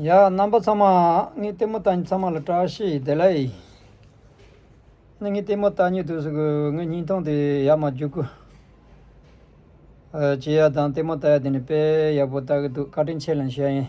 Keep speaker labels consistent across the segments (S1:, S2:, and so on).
S1: ཡང་རྣམ་པ་ཚང་མ་ནི་ལྟད་མོ་ལྟ་ཚང་མ་ལ་བཀྲ་ཤིས་བདེ་ལེགས། ནི་ངའི་ལྟད་མོ་ལྟ་ཉིད་དུ་གསུང་གི་ངའི་སྙིང་སྟོང་དེ་ཡར་མར་རྒྱུག་གི། བྱེད་ཡག་དང་ལྟད་མོ་ལྟ་ཡག་དེ་ནི་དཔེ་ཡག་པོ་ལྟ་གི་འདུག་བཀའ་དྲིན་ཆེ་ལན་ཞུ་ཡ་ཡིན།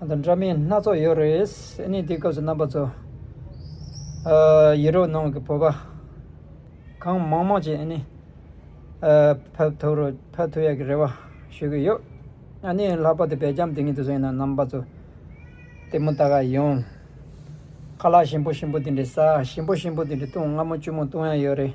S1: ང་དང་འདྲ་མིན་སྣ་ཚོགས་ཡོད་རེད། ཨཱནི་དེའི་སྐབས་སུ་རྣམ་པ་ཚོ། ཡེ་རོ་ནང་གི་བོད་པ། གང་མང་མང་ཅིག་ཨཱནི། ཕབ་ཐུབ་རོགས་ཕབ་ཐུབ་ཡག་གི་རེད་བ། ཞུ་གི་ཡོད། ཨཱནི་ལྷག་པ་དེ་བེ་རྒྱམ་དེ་གཉིས་དེ་ཚོ་ཡིན་ན་རྣམ་པ་ཚོ། དེ་མུ་ད་ག་ཡོང། ཁ་ལག་ཞིམ་པོ་ཞིམ་པོ་དེ་འདྲའི་ཟ་ཞིམ་པོ་ཞིམ་པོ་དེ་འདྲའི་བཏུང་སྔ་མོ་བཅུ་མོ་བཏུང་ཡ་ཡོད་རེད།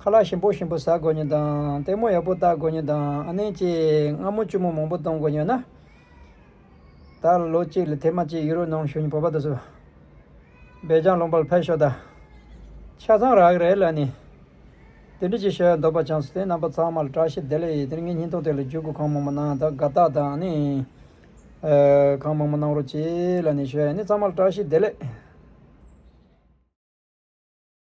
S1: ཁ་ལག་ཞིམ་པོ་ཞིམ་པོ་ཟ་དགོས་ཉེན་དང་ལྟད་མོ་ཡག་པོ་བལྟ་དགོས་ཉེན་དང་ཨ་ནེ་ཅེས་རྔ་མོ་ལྕི་མོ་མང་པོ་གཏོང་དགོས་ཉེན། ད་ལོ་གཅིག་ལ་དེ་མ་གཅིག་ཡུ་རོ་ནང་བཞུགས་ནས་བོད་པ་དུ་སུ་བས་ལྗང་ལོངས་པར་ཕེབས་ཤོག་ད་ཆ་ཚང་རག་རེད་ལ་ནི། དེ་འདྲི་ཅིག་བྱས་འདོད་པ་ཆང་སོ་དེ་རྣམ་པ་ཚང་མ་ལ་བཀྲ་ཤིས་བདེ་ལེགས་དེ་རིང་ངའི་སྙིང་སྟོབས་དེ་ལ་འཇུག་དགོས་གང་མང་པོ་གནང་ད་དགའ་རྟགས་དང་ཨ་ནེ། གང་མང་པོ་གནང་རོགས་གྱིས་ལ་ནི་བྱས་ནི་ཚང་མ་ལ་བཀྲ་ཤིས་བདེ་ལེགས།